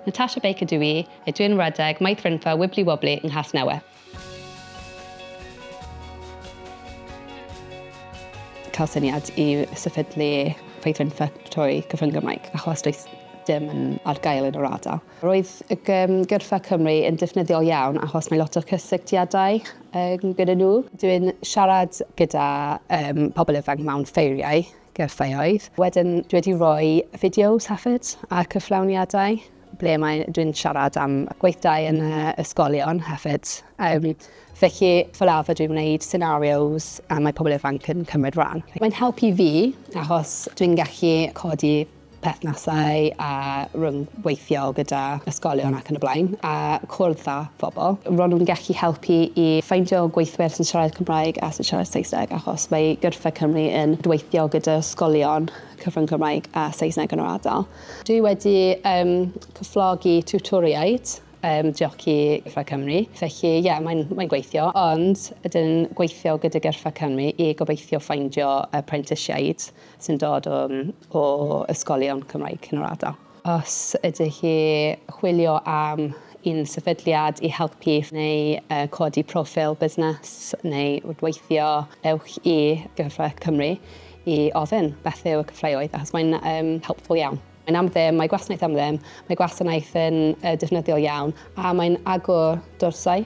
Natasha Baker dw i, a dw i yn wragedd Maith Frynfa Wibli Wobli yng Nghasnewydd. cael syniad i sefydlu Faith Frynfa trwy Cyfrwng Gymraeg achos does dim yn ar gael yn yr ardal. Roedd y gyrfa Cymru yn defnyddiol iawn achos mae lot o cysylltiadau gyda nhw. Dw i'n siarad gyda pobl ifanc mewn ffeiriau gyrfaoedd. Wedyn dwi wedi rhoi fideos hefyd a cyflawniadau ble mae dwi'n siarad am gweithdai yn y ysgolion hefyd. Um, felly, fel arfer dwi'n gwneud scenarios a mae pobl ifanc yn cymryd rhan. Mae'n helpu fi achos dwi'n gallu codi perthnasau a rhyngweithio gyda ysgolion ac yn y blaen, a cwrdd â phobl. Ro'n nhw'n gallu helpu i ffeindio gweithwyr sy'n siarad Cymraeg a sy'n siarad Saesneg achos mae Gyrfa Cymru yn gweithio gyda ysgolion cyfrwng Cymraeg a Saesneg yn yr ardal. Dwi wedi yym cyflogi tiwtoriaid yym diolch i Gyrfa Cymru, felly ie mae'n mae'n gweithio, ond ydyn gweithio gyda Gyrfa Cymru i gobeithio ffeindio y prentisiaid sy'n dod um, o ysgolion Cymraeg yn yr ardal. Os ydych chi chwilio am un sefydliad i helpu neu uh, codi profil busnes neu weithio, ewch i Gyrfa Cymru i ofyn beth yw y cyfleoedd, achos mae'n um, helpful iawn. Mae'n am ddim, mae gwasanaeth am ddim, mae gwasanaeth yn uh, defnyddiol iawn a mae'n agor dorsau